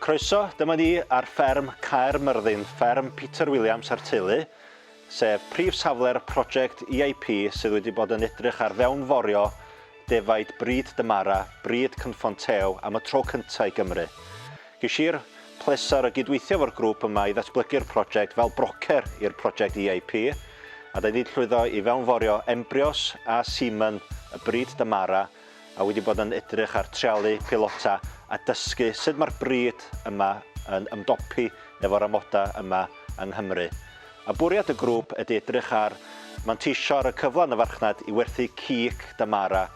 Croeso, dyma ni ar fferm Caer Myrddin, fferm Peter Williams a'r teulu, sef prif safle'r prosiect EIP sydd wedi bod yn edrych ar fewnforio defaid bryd Dymara, bryd Cynffon Teo, am y tro cyntaf i Gymru. Ges i'r pleser o gydweithio efo'r grŵp yma i ddatblygu'r project fel brocer i'r project EIP, a da ni wedi llwyddo i fewnforio embrios a semen y brid Damara, a wedi bod yn edrych ar trialu peilota a dysgu sut mae'r brid yma yn ymdopi efo'r amodau yma yng Nghymru. A bwriad y grŵp ydy edrych ar manteisio ar y cyfle yn y farchnad i werthu cig Damara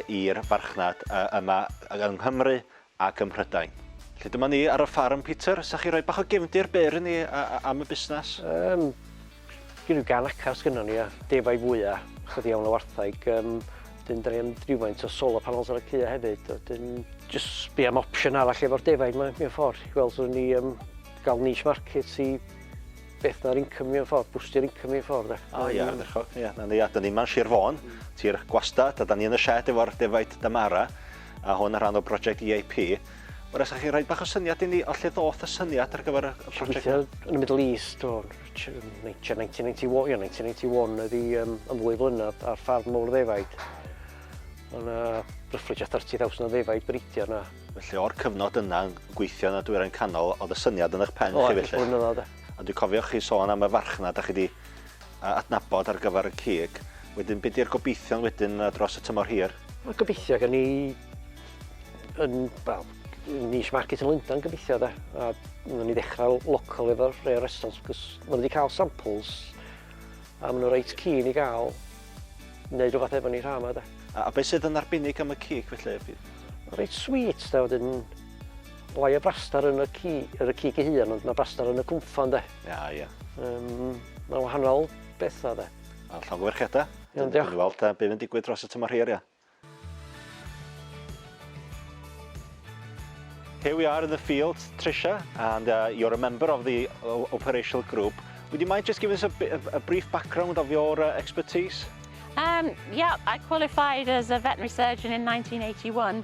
i'r farchnad yma yng Nghymru ac ym Mhrydain. Felly dyma ni ar y ffarm, Peter, 'sa chi roi bach o gefndir byr i ni am y busnes? Yym, gen ryw gan acar sgynnon ni a defaid fwya, chydig iawn o wartheg, yym, wedyn 'dan ni am rywfaint o solar panels ar y caeau hefyd, wedyn jyst sbio am opsiwn arall efo'r defaid 'ma mewn ffor, i weld os o'n ni yym ga'l niche market i beth na'r income mewn ffor, bwstio'r income mewn ffor 'de. O ia, ardderchog, ia. 'Na ni, a 'dan ni 'ma yn Sir Fôn, tir gwastad, a 'dan ni yn y sied efo'r defaid Damara. a hwn yn rhan o brosiect EIP. Wel, os chi rhoi bach o syniad i ni o lle ddoth y syniad ar gyfer y prosiect? yn y Middle East o 1991, ia, 1991 oedd i um, am ddwy flynedd ar ffarm mowr ddefaid. Mae yna ryfflyd 30,000 o ddefaid breidio yna. Felly o'r cyfnod yna yn gweithio yn y dwyrain canol, oedd y syniad yn eich pen chi felly? O, blynyddoedd, da. A dwi'n cofio chi sôn am y farchnad a chi wedi a adnabod ar gyfer y cig. Wedyn be di'r gobeithion wedyn yy dros y tymor hir? Wel gobeithio gen i yn wel niche market yn Lundan gobeithio de a nawn ni ddechrau local efo'r rei o'r restaurants cos maen nhw wedi cael samples a maen nhw reit keen i gael wneud rhywbeth efo ni rhan yma de. A, a beth sydd yn arbennig am y cig felly? Reit sweet de wedyn Mae y braster yn y ci, yr y cig ei hun, ond mae braster yn y cwmffan, de. Ia, ia. Um, mae wahanol bethau, de. Mae'n llawn gyferchiadau. Iawn, diolch. Dwi'n weld, bydd yn digwydd dros y tymor hir, ia. Here we are in the field, Trisha, and uh, you're a member of the uh, operational group. Would you mind just giving us a, bit, a brief background of your uh, expertise? Um, yeah, I qualified as a veterinary surgeon in 1981.